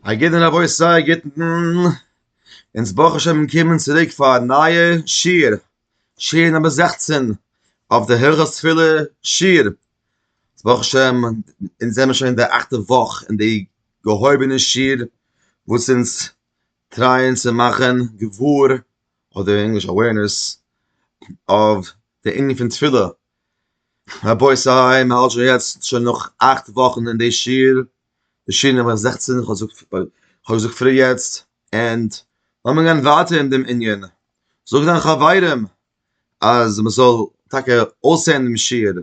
א גוטן רבותי א גוטן, אונז ברוך השם קומען צוריק פאר א נייע שיעור, שיעור נומער זעכצן אויף די הלכות תפילה שיעור, ברוך השם אונז זעמיר שוין אין די אכטע וואך אין די געהויבענע שיעור וואס אונז טרייען צו מאכן געוואר אדער אין ענגליש awareness אויף די ענין פון תפילה, רבותי מען האלט שוין יעצט שוין נאך אכט וואכן אין די שיעור, בשי ת נומער זעכצן, איך האב געזאגט פאר, איך האב געזאגט פרי יעצט, ענד לאמיר גיין ווייטער אין דעם ענין, זאג דיינע חברים אז מען זאל טאקע אויסהערן דעם שיעור,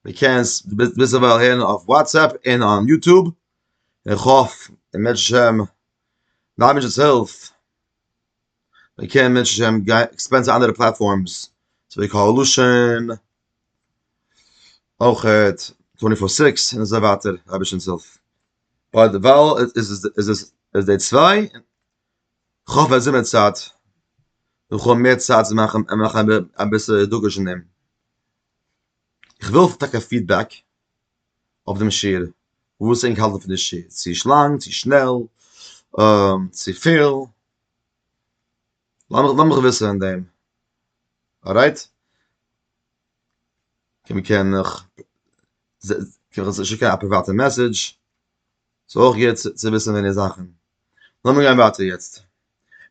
די קענסט ביזדערווייל הערן אויף וואטסעפפ און אויף יוטוב, און איך האף און בעזהשי ת מיט די אייבערשטנ'ס הילף מען קען בעזהשי ת עקספענד צו אנדערע פלעטפארמס צווי קהל לשון. אויך טווענטי פאר סיקס און אזוי ווייטער רביש'ן זעלף ביי די וואל איז עס איז עס איז די צוויי איך האף אז זומער צייט איך האב מער צייט צו מאכן און מאכן אביסל דגוש אין דעם איך וויל טאקע פידבעק אויף דעם שיעור וואס ענק האלטן פון די שיעור צו נישט לאנג צו שנעל צו פיל לאמיך וויסן אין דעם ארייט און מען קען נאך שיקן א פריוואטע מעסעדזש, ס'איז אויך גוט צו וויסן מער זאכן. לאמיר גיין ווייטער יעצט,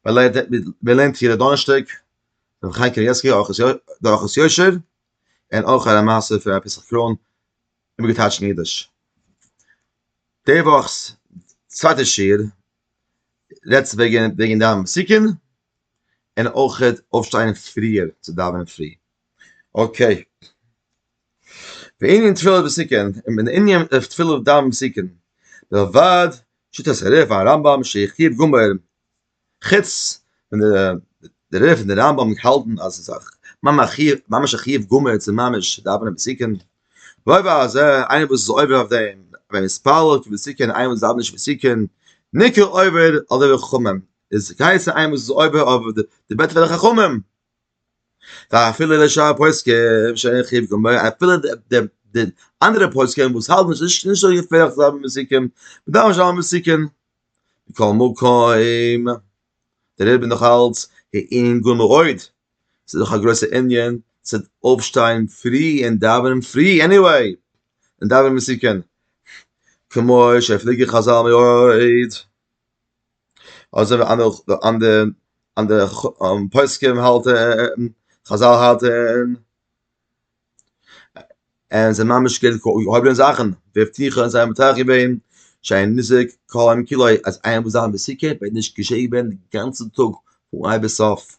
מען לערנט מען לערנט יעדע דאנערשטאג דורך חיים קנייבסקי די אורחות יושר, און אויך א מעשה פון רבי פסח קראהן איבערגעטייטשט אין אידיש. די וואכ'ס צווייטע שיעור רעדט וועגן וועגן דיין סיכום, און אויך אויפשטיין פריער צו דאווענען פרי. אקעי. בענין תפילה בסיכון, בענין תפילה דאווענען בסיכון, מלבד שיטת הרה ק הרמב ם שהחמיר גמור, חוץ ווען די רה פון די רמב ם האלטן אז עס איז ממש א חיוב גמור צו ממש דאווענען בסיכון, ועוד על זה, איינער וואס איז עובר אויף דעם, ווען ער מתפלל בסיכון, איינער וואס דאווענט נישט בסיכון, ניכר עובר על דברי חכמים, איז קייסע איין וואס איז עובר אויף די בעט פון די חכמים פאר אפילו די שאר פוסקים שאין חיוב גמור אפילו די די אנדערע פוסקים וואס האלטן נישט נישט נישט אזוי געפערליך זיי האבן מסיקים מ'דארף נישט זיין מסיקים מכל מקום דער רבי נאך אלץ אין גאון מאוד ס'איז דאך א גרויסע ענין צו אויפשטיין פרי און דאווענען פרי עניוועי און דאווענען מסיקים כמו שפליגי חזל מאוד אזוי ווי אנדערע אנדערע אנדערע פוסקים האלטען, חזל האלטען, און ס'איז ממש געווען געהויבענע זאכען, ווי פריער זענען זיי מטהר געווען שאין ניזוק כל יום כולו, אז איינער וועט זיין אין די סוכה וועט נישט געשעהן ווערען די גאנצע טאג פון אהן ביז סוף.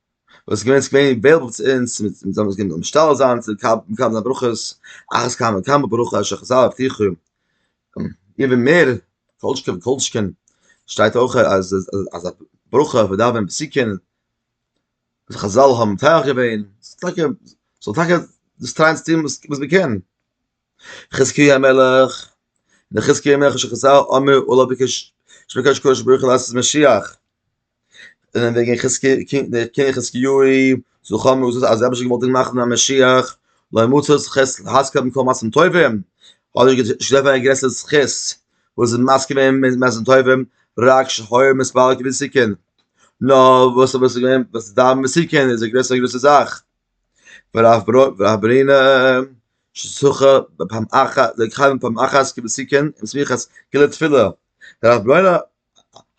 וואס איז געווען סקווער אין בעלבע צו אונז מיט זיי וואס גייען משתעל זיין צו קאפ און קאפ זיין ברכות אחת כמה וכמה ברוך ה' שחזר הבטיחו איבער מער כל שכן וכל שכן שטייט אויך אז אז א ברכה ווען דארף ווען בסיכן אז חזל האבן טייער געווען ס'איז טאקע ס'זאל טאקע דאס טרייען צו טון וואס מ'קען חזקי המלך די חזקי המלך שחזל אמר אולי ביקש שבקש קודש ברוך הוא לעשות משיח און וועגן חזקי די קינג חזקי יוי זו חמי וזו אז אבא שגמול דין מאכן א משיח לא מוצא חס חזקה במקום מעשים טובים אולי גדול הגרס את חס וואס איז מאסק ווען מיט מעשים טובים רק שחור מספר גביסיקן נאר וואס איז געווען וואס דארף מסיקן איז די גרסה גרויסע זאך והברנה שזכה לכהן פעם אחת כבסיקיין אין סמיכת כלי תפילה, דער הברנה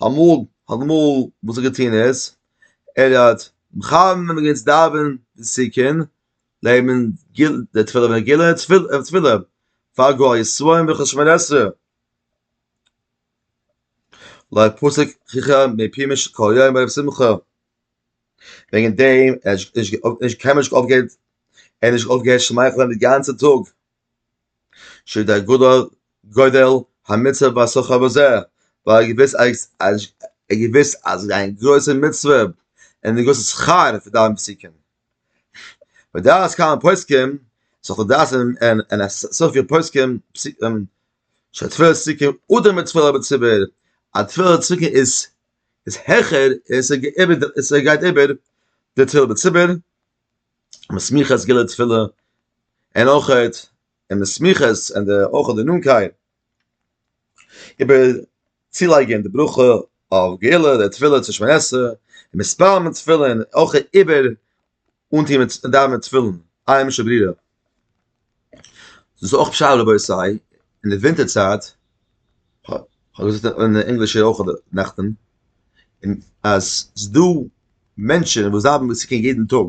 אמאל האט אמאל וואס ער האט געטון איז ער האט מכוון ווען מ'גייט דאווען די סיקיין לייגט מען די תפילה ווען גילה און תפילה פאר גאר ישראל ברכת שמונה עשרה, לויט פסוק חכם מפי מש כל יום ערב שמחה. וועגן דעם ער האט זיך נישט אויף נישט קיינמאל נישט אויפגעהערט ער האט נישט אויפגעהערט שמייכלען די גאנצע טאג שוי דער גדול גודל המצוה והשכר בזה ווייל ער געוויסט אז אז ער געוויסט אז דיין גרויסע מצוה און די גרויסע שכר פון דיין פסיקין ודעת כמה פוסקים סאך די דעת און און א סאך פון פוסקים פסיקין שתפילה צדיקה אדער מצוה בציבור א תפילה צדיקה איז איז העכער און עס גייט איבער די תפילה בציבור, און סמיכות גיל די תפילה און אויך און די סמיכות און די אויך די נאנטקייט איבער צולייגען די ברכה אויף גיל די תפילה צו שמונה עשרה און מספר מיט תפילה און אויך איבער אנטוהן מיט דאווענען מיט תפילין, היימישע ברירה. דאס איז אויך פשט רבותי אין די ווינטער צייט, כ'האב געזאגט אין די ענגלישע אויך נעכטען, אז ס'איז דא מענטשען וואס דאווענען מיט סוכות יעדען טאג,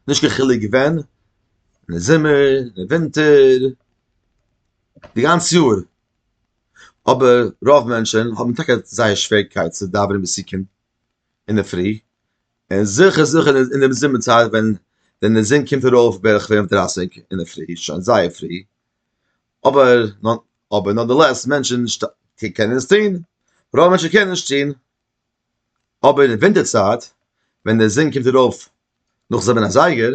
נישט קיין חילוק ווען, אין די זומער, אין די ווינטער, די גאנצע יאר, אבער רוב מענטשען האבען טאקע זייער שוועריקייט צו דאווענען מיט סוכות אינדערפרי, און זיכער זיכער אין דעם זומער צייט ווען ווען די זון קומט ארויף בערך פֿינף דרײַסיק אינדערפרי איז שוין זייער פרי, אבער אבער נאדערלעס מענטשען קענען עס טוהן, רוב מענטשען קענען נישט טוהן, אבער אין ווינטער צייט ווען די זון קומט ארויף נאך זיבען אזייגער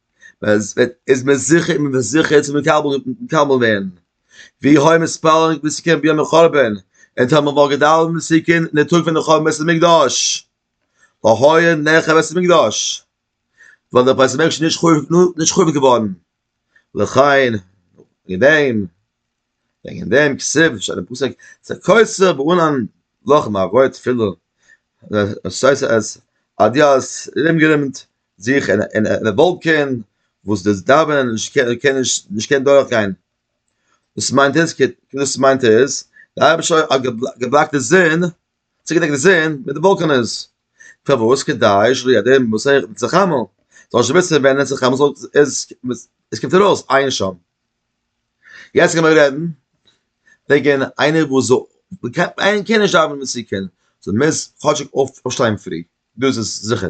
אז וועט איז מיר זיכער און מיר זיכער איז מיר קאמאן קאמאן ווען ווי הוי מספארן ווי ס'קען ביום החורבן אין טאמער וואלט געדאווענט ווי ס'קען אין די טאג פון די חורבן בית המקדש אהוי נעכע בית המקדש וואלט דער בית המקדש נישט חורבן נישט חורבן געווארן לכן אין דעם וועגן דעם כסף שאל דעם פסק צו קויסער באונן לאך מארויט פילער דאס הייסט אז אדיאס איז אומגערומט זיך אין א וואלקען וואס דאס דאווענען קען נישט קען דורך גיין, דאס מיינט איז דאס מיינט איז די אייבערשטער האט געבלאקט די זון, צוגעדעקט די זון מיט די וואלקענעס, פארוואס כדי שלא ידע מסכת צו חמה, זאל נישט וויסן ווען עס איז חמה זאל עס קומט ארויס עיין שם. יעצט קען מען רעדן וועגן איינער וואס זאל איינער קען נישט דאווענען מסוכן זאל מוז כאטשיג אויפשטיין פרי דאס איז זיכער.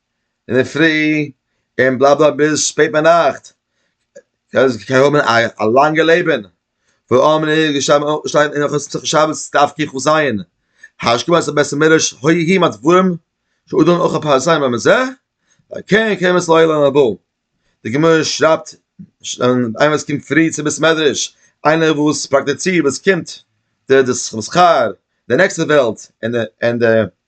אינדערפרי און בלאַ בלאַ ביז שפּעט ביינאַכט, זיי קענען האָבן אַ לאַנגע לעבן, ווי אָמען איז געשטאַנען אין הלכות מסכת שבת דף קכו ז, השכ ב בית המדרש הוי ה מה דברים שאודן אויך אַ פּאַרציי מען מזה, ועל כן קיימת לו עילה לבא. די גמרא שרייבט אַן איינער וואָס קומט פרי צום בית מדרש, איינער וואָס פּראַקטיצירט וואָס קומט די די שכר די נעקסטע וועלט און די און די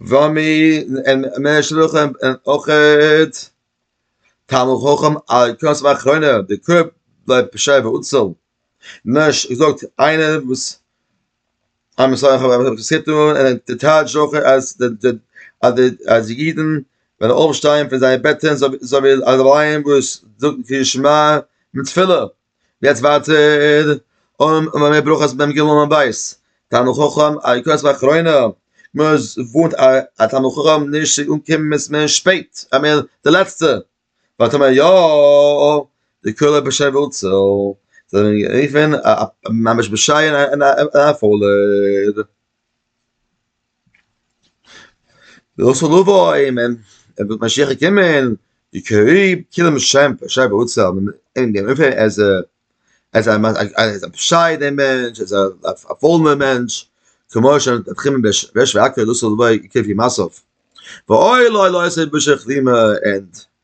וואו מי אין מער שלוחים אין אויכעט תלמוד חכם א קונץ ואחרונה די קופ בלויב פשער ואוצל נאש געזאגט איינער וואס עם ישראל האבן אויף די סיטו און די טייטש זוכער אז די אז די אז די אידן וועלן אויפשטיין פון זייער בעטען זאל וועלן אלע ווייען וואס זאגן קריאת שמע מיט תפילה יעצט ווייטער, און און מער ברכות ביים גילו און בית, תלמוד חכם א יוקרת ואחרונה, מוז ווארט א תלמוד חכם נישט צו אנקומען מיט מער שפעט, א מער די לעצטע, ווייל טאמער יא, די כלה בשי ואוצל, זאל מען רופען ממש בשי און א פולער. דער אויס לבו אין מען ער וועט משיח קומען די קעריב קילן שעמפ שייב אויס זיין אין דעם פער אז אז א אז א פשיידער מענטש אז א פאלנע מענטש כמו ש דער חימ ב וועש וואקער דאס איז וואו איך קען פיל מאסף וואו אוי לוי לוי עס איז ביז'ן כרימע ענד.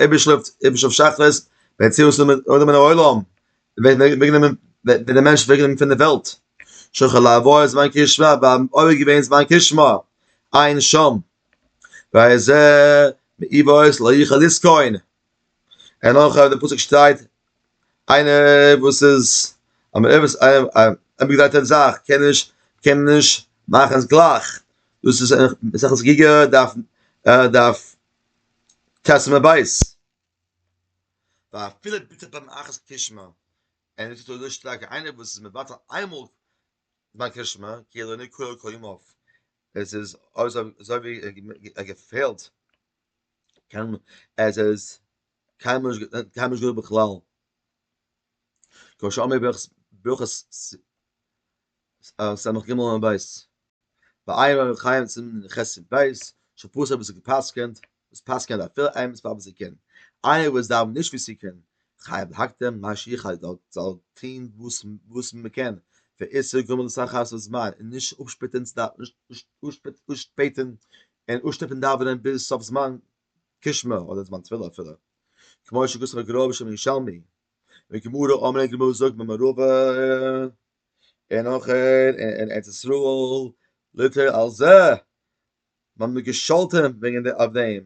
איבער שלאפט איבער שלאפט שחרית ווען צו עס נעמען אויב נעמען אוילאם ווען ווען נעמען ווען דער מענטש ווען נעמען פון דער וועלט שו ח לאוו איז מיין קיש וואב באם אויב געווען איז מיין קיש מא אין שם ווייל זע אי וואויס לא איך אליס קוין אין אויך דער פוסק שטייט איינער וואס איז א מערבס א א ביג דייטער זאך קען נישט קען נישט מאכן עס גלייך דאס איז א סאך עס גיגער דארף דארף תשמ ב, ואפילו ביטע ביים אחת קרישמע, און עס טוט אזוי שטארק איינער וואס איז מבטל איינמאל ביי קרישמע כאילו אינו קורא כל ימיו, עס איז אזוי ווי ער געפעלט קיין עס איז קיינמאל נישט געווען בכלל, כמו שאמר ברכות ס ג עמוד ב', בעיר אור החיים צו נ ח סימן ב', ש פ אויב עס איז געפסקענט, וואס פסקענען א פר' אמת פאר וואס זי קען, איינער וואס דאווענט נישט ווי זי קען, חייב להקדים מה שיכול זאל זאל טוהן וואס מען קען, ואיסור גומר לסך חצות זמן, און נישט אפשפעטען צו דאווענען אפשפעטען און אפשטופען דאווענען ביז סוף זמן גשמי אדער זמן תפילה אפילו, כמו שגזר הגרא בשם ירושלמי, און גמרא אמרי גמרא זאגט במערבא. און אויך אין ארץ ישראל ליטע על זה מען האט געשאלטען וועגען די אויף דעם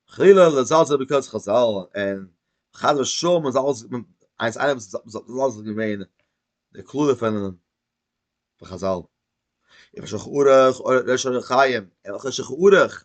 חלילה לזלזל בקודש חזל און חס ושלום מען זאל אלעס איינס איינס זאל אלעס געווען די קללה פון חזל איך שכוח אויך ר' חיים איך שכוח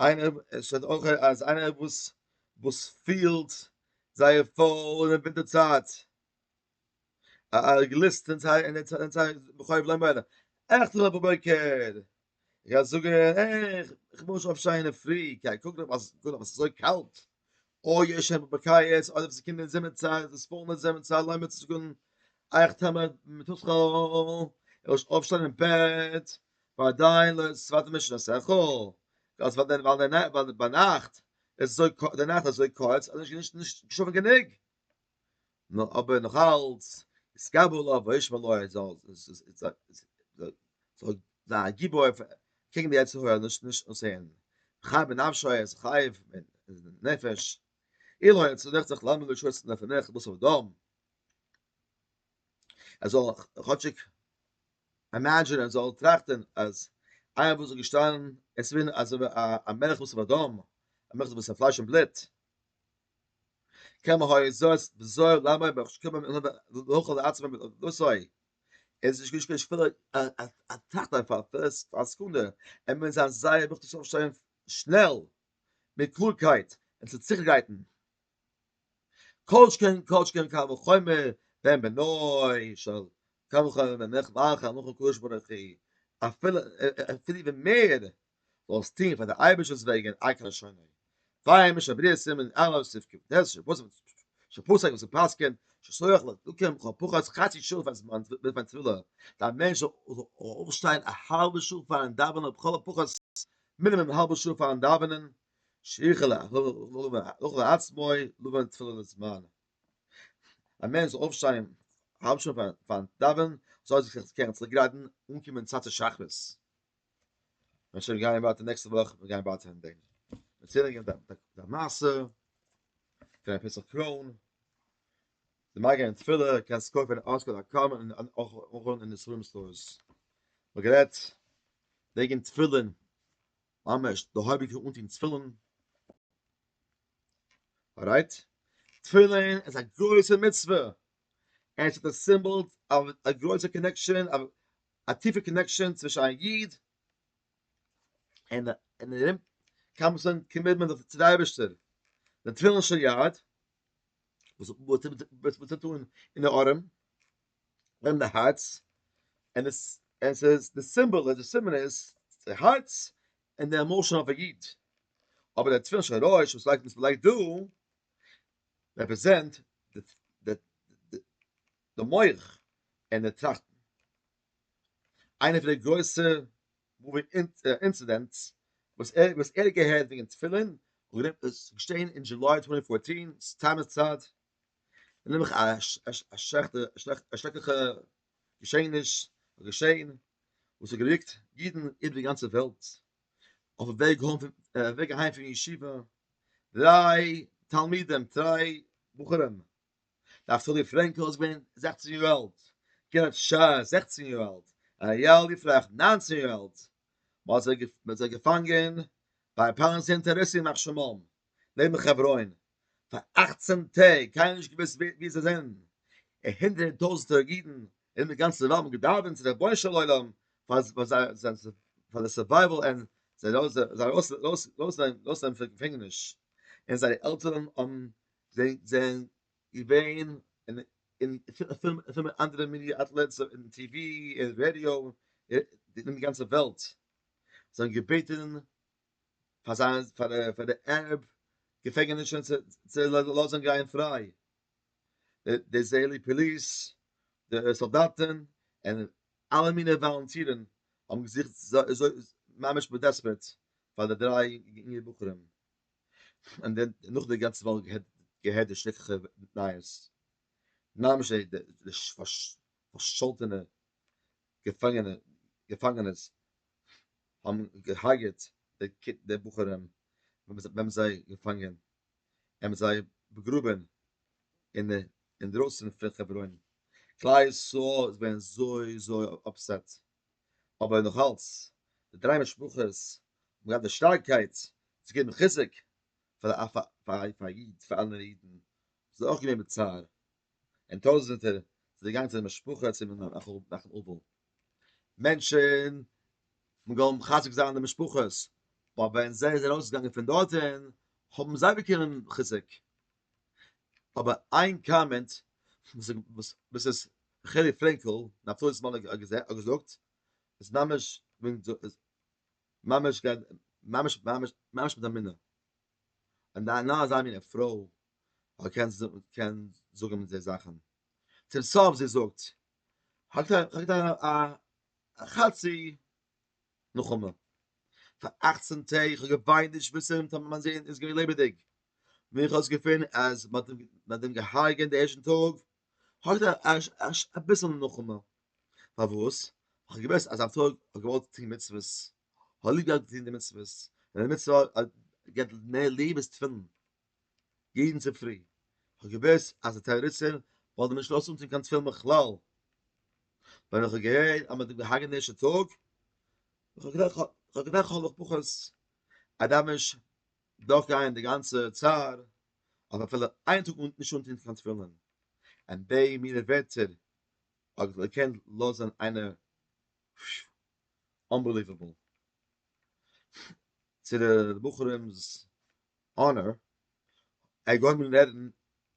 איינער עס שטייט אויך אז איינער וואס וואס פילט זייער פול אין די ווינטער צייט א א גליסט אין זיי אין זיי בחוב לעמען עכט אויף די בוקער איך גיי זאגען איך איך מוז אויפשטיין אין די פרי קיי קוק דאך אז קוק דאך אז ס'איז אזוי קאלט או יש הם בקיץ אדער ווען ס'קומט אין זומער צייט איז עס פול מיט זעמען צו אליין מיטצוקן אייך טעמער מיט השכל איר זאלט אויפשטיין אין בעט אודאי לא איז צווייטע מענטשן א שכל אז ווייל ביינאכט איז אזוי קורץ אז נישט געשלאפן גענוג נאר אבער נאך אלץ איז קבל אויף וישמע לו איז אלס איז איז איז איז זאל זיין א גיבור אויף קעגן די יצר הרע נישט נישט אויסהערן חי בנפשו ער איז חי נפש אילו אין צו דאכצעך לאמיר נישט שויסן אויף נעך בוסר דאם ער זאל כאטשיק imagine ער זאל טראכטן אז איינער וואס איז געשטאנען עס ווען אז א מלך בוסר דאם א מלך בוסר פלייש און בלוט קען מען הויען זאת בזוהר למה בך שקומם אין לבא לאוכל לעצמם אין לבא סוי איז נישט געשקען שפיל א טאכט אויף א פרס א סקונדע ער מיין זיין זייער בוך צו אויפשטיין שנעל מיט קלארקייט און צו זיך גרייטן כל שכן כל שכן קל וחומר ווען בנוי של קל וחומר ווען נח לאך אנוכו קדוש ברוך הוא אפילו אפילו ווען מער זאלסט טון פאר דער אייבערשטער'ס וועגן און עקר לשונו, וויי משא בריאה סימן ר ל סעיף קב ד, שפסק וואס ער פסק'ענט, שסוח לא תקום כל פחות חצי שעה פאר זמן בעת מיין תפילה, אז א מענטש זאל אויפשטיין א האלבע שעה פאר'ן דאווענען אדער לכל הפחות מינימום א האלבע שעה פאר'ן דאווענען, שיכול להכריח את עצמו לבוא לתפילה לזמן, א מענטש זאל אויפשטיין א האלב שעה פאר'ן דאווענען, זאל ער זיך קערן צוריק גרייטן אנקומען צייט צו שחרית. אנשטאט גיין ווייטער נעקסטע וואך מיר גיין ווייטער אין דעם מיר צעלן גיין דעם מאסע פון א פיסל קראון די מאגע אין תפילה קען סקוי פון אסקול א קאם און אויך און אין די סווים סטארס מיר גערעדט וועגן תפילין ממש די הויביקע אונטן תפילין ארייט תפילין איז א גרויסע מצווה עס איז א סימבאל אויף א גרויסע קאנעקשאן א טיפע קאנעקשאן צווישן א איד און און ארום קאמפסן קימערט מען זיך צו די אייבערשטער די תפילין של יד וואס וואס וואס וואס טוט אן אין די ארעם און די הארץ און עס און עס איז די סימבאל און די סימן איז די הארץ און די עמאשען אויף א איד אבער די תפילין של ראש וואס לייגט וואס מען לייגט דא רעפרעזענט די די די מח און די טראכטן. איינע פון די גרויסע מאווי אינצידענטס וואס ער וואס ער האט געהערט וועגן תפילין האט געדענקט עס איז געשעהן אין דזשוליי טווענטי פארטין סאטמאר צייט און נעבעך א א שלעכטע א שרעקליכע געשעעניש איז געשעהן וואס האט געריקט אידן איבער די גאנצע וועלט אויף א וועג הוים וועג אהיים פון ישיבה דריי תלמידים דריי בחורים דארפסט אלי פרענקל איז געווען זעכצן יאר אלט, קרית שרה זעכצן יאר אלט, אריאל יפרח ניינצן יאר אלט, מ'האט זיי געפאנגען ביי פארנס אינטערעסי ימח שמם נעבן חברון פאר אכצן טעג, קיינער נישט געוואוסט ווי זיי זענען, און הונדערטער טויזנטער אידן אין די גאנצע וועלט האבן געדאווענט צו די רבונו של עולם פאר זייער סורווייוועל און זיי ארויסנעמען פון געפענגעניש, און זייערע עלטערן האבן זיי זענען געווען אין אין פילע אנדערע מידיע אטלעטס אין טי ווי אין רעדיא אין די גאנצע וועלט זיי האבן געבעטען פאר זיין פאר פאר די ארעב געפענגענישען צו לאזען גיין פריי די איזרעילי פאליס די סאלדאטען און אלע מיני וואלענטירען האבן געזוכט ממש בדעספערעט פאר די דריי יונגע בחורים. און דען נאך די גאנצע וואך געהערט די שרעקליכע נייעס, ממש די די פארשאלטענע געפאנגענע געפאנגענעס האבן געהארגעט די בחורים ווען מ'האט זיי געפאנגען און מ'האט זיי באגראבען אין אינדרויסן פון חברון, כלל ישראל איז געווען אזוי אזוי אפסעט. אבער נאך אלץ, די דריי משפחות האבן געהאט די שטארקייט צו געבן חיזוק פאר א פאר א איד, פאר אנדערע אידן וואס זענען אויך געווען בצער, און טויזענטער זענען געגאנגען צו די משפחה צו נחום אבל. מענטשן האבן געוואלט מחזק זיין די משפחות, אבער ווען זיי זענען ארויסגעגאנגען פון דארטן האבן זיי באקומען חיזוק. אבער איין קאמענט וואס מיסעס רחלי פרענקל, נפתלי'ס מאן האט געזאגט איז ממש ממש ממש ממש ממש מיט א מינע. אז נאר נאר אזא מינע פרוי קען קען זאגן אזעלכע זאכן. צום סוף זי זאגט, כ'האב געטראכט א חצי נחמה. פאר אכצן טעג, איך האב געוויינט נישט מסר'ן טאמער מיין זון איז געווען לעבעדיג. ווען איך האב עס געפונען אז מ'האט אים געהרגעט די ערשטן טאג, האט ער אביסל נחמה. פארוואס? איך האב געוואוסט אז א פרוי האט געוואלט טון מצוות, האט ליב געהאט צו טון די מצוות, און די מצוה געט מער ליב איז תפילין. יעדן צופרי, כ'האב געוואוסט אז די טעראריסטען וואלטן נישט לאז אנצינד קיין תפילין בכלל, ווען איך האב געהערט אז מ'האט געהארגעט די ערשטע טאג, איך האב געדאכט איך האב געדאכט כ'האב נאך פחות א דאמעזש דורך גיין די גאנצע צער, אויף אפילו איין טאג אן נישט אנטון קיין תפילין, און די מינע ווערטער האט געקענט לאזען איינער פשש אנבעליוועבל, צו די בחורים'ס אנער האט געהויבן רעדן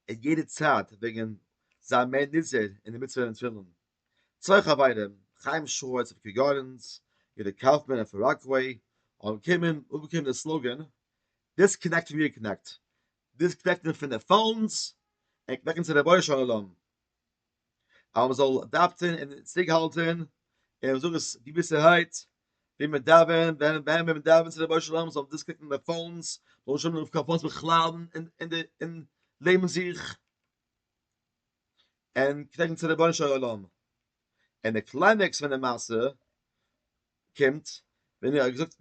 אין יעדע צייט וועגן זיין מער נזהר אין די מצוה פון תפילין צויי חברים חיים שווארץ פון קי גארדענס יהודה קאופמאן פון ראקוועי האבן קומען אפגעקומען די סלאגאן דיסקנעקט ריקנעקט דיסקנעקטן פון די פאונס און קנעקן צו רבונו של עולם. אז מען זאל דאווצען און צוריק האלטען און מען זאל עס געוויסערהייט ווי מען דאווענט ווען ווען מען דאווענט צו רבונו של עולם זאל מען דאס קוקן ביי פאונס זאל שוין אויף קיין פאונס בכלל און און די און לעבן זיך און קלערן צו רבונו של עולם און די קליימעקס פון די מעשה קומט ווען ער האט געזאגט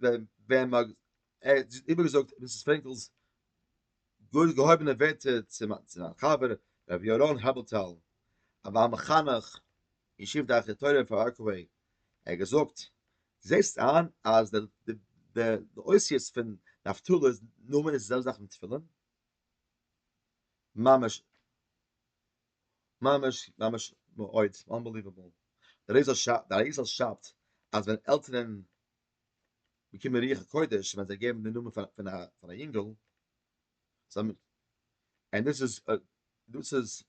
ווען ער האט איבערגעזאגט מיסיס פרענקל'ס גאר געהויבענע ווערטער צו זיין חבר ר' ירון הברטל א בעל מחנך ישיב דרכי תורה אין פאר ראקעוועי ער האט געזאגט זעסט איין אז די די אותיות פון נפתלי'ס נאמען איז די זעלבע זאך ווי תפילין? ממש ממש ממש מאוד אנבעליוועבל, דער אריזל שאפט דער אריזל שאפט אז ווען עלטערען באקומען רוח הקודש ווען זיי געבן די נאמען פון א פון א יונגעל זיי און דאס איז דאס איז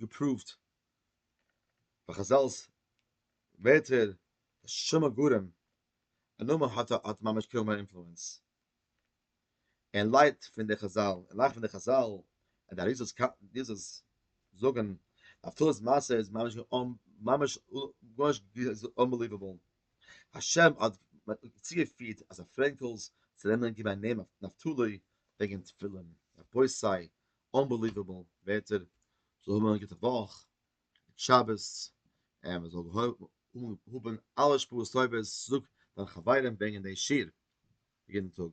געפראווט ביי חזל'ס ווערטער די שם הגורם א נאמען האט האט ממש קוים א אינפלוענס. און לייט פון די חזל, און לייכט פון די חזל, און די אריזות ק ד זאגן אז תולדות מעשה איז ממש אן ממש ממש אנבעליוועבל, השם האט צוגעפירט אז א פרענקל'ס זאל נעמען געבן א נעם אויף נפתלי וועגן תפילין, רבותי סיי אנבעליוועבל ווערטער, זאל האבן א גוטע וואך, גוט שבת, און מען זאל האבן אלע שפעות טובות, זאג דיינע חברים ברענגען די שיר. יעדן טאג.